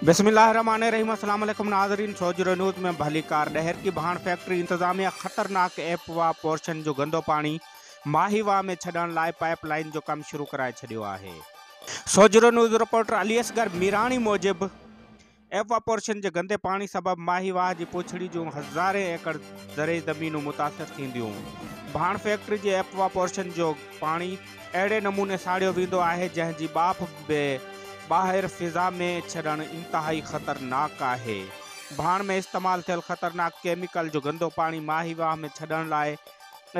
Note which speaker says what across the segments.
Speaker 1: بسم الله الرحمٰن الرحيم السلام عليڪم ناظرين سوجهرو نيوز ۾ ڀليڪار ڏهرڪي ڀاڻ فيڪٽري انتظاميه خطرناڪ ايپ واهه پورشن جو گندو پاڻي ماهي واهه ۾ ڇڏڻ لاء پائيپ لائين جو ڪم شروع ڪرائي ڇڏيو آهي سوجهرو نيوز رپورٽر علي اصغر ميراڻي موجب ايپ واهه پورشن جي گندي پاڻي سبب ماهي واهه جي پوڇڙي جون هزارين ايڪڙ زرعي زمينون متاثر ٿينديون ڀاڻ فيڪٽري جي ايپ واهه پورشن جو پاڻي اهڙي نموني ساڙيو ويندو آهي جنهن جي ٻاڦ به ٻاهر فضا ۾ ڇڏڻ انتهائي خطرناڪ آهي. ڀاڻ ۾ استعمال ٿيل خطرناڪ ڪيميڪل جو گندو پاڻي ماهي واهه ۾ ڇڏڻ لاء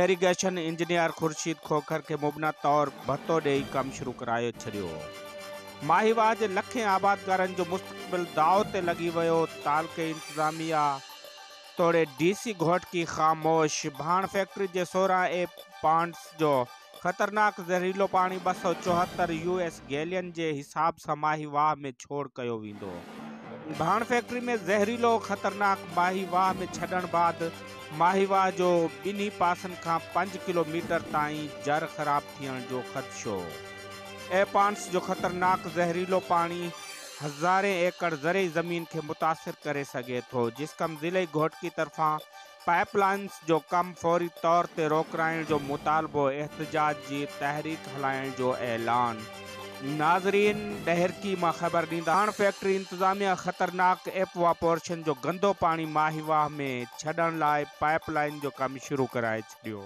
Speaker 1: ايريگيشن انجنيئر خورشيد کوکر کي مبنا طور ڀتو ڏيئي ڪم شروع ڪرائي ڇڏيو. ماهي واهه جي لکين آبادگارن جو مستقبل داء تي لڳي ويو، تعلقي انتظاميا، توڙي ڊي سي گهوٽڪي خاموش ڀاڻ فيڪٽري جي سورهن اي پانٽس جو خطرناڪ زهريلو پاڻي ٻه سؤ چوهتر يو ايس گيلين جي حساب سان ماهي واهه ۾ ڇوڙ ڪيو ويندو. ڀاڻ فيڪٽري ۾ زهريلو خطرناڪ ماهي واهه ۾ ڇڏڻ بعد ماهي واهه جو ٻنهي پاسن کان پنج ڪلو ميٽر تائين جر خراب ٿيڻ جو خدشو اي پانٽس جو خطرناڪ زهريلو پاڻي هزارين ايڪڙ زرعي زمين کي متاثر ڪري سگهي ٿو، جسقم ضلعي گهوٽڪي طرفان پائيپ لائينز جو ڪم فوري طور تي روڪرائڻ جو مطالبو احتجاج جي تحريڪ هلائڻ جو اعلان. ناظرين ڏهرڪي مان خبر ڏينداسين. ڪاڻ فيڪٽري انتظاميا خطرناڪ ايپواپورشن جو گندو پاڻي ماهي واهه ۾ ڇڏڻ لاء پائيپ لائين جو ڪم شروع ڪرائي ڇڏيو.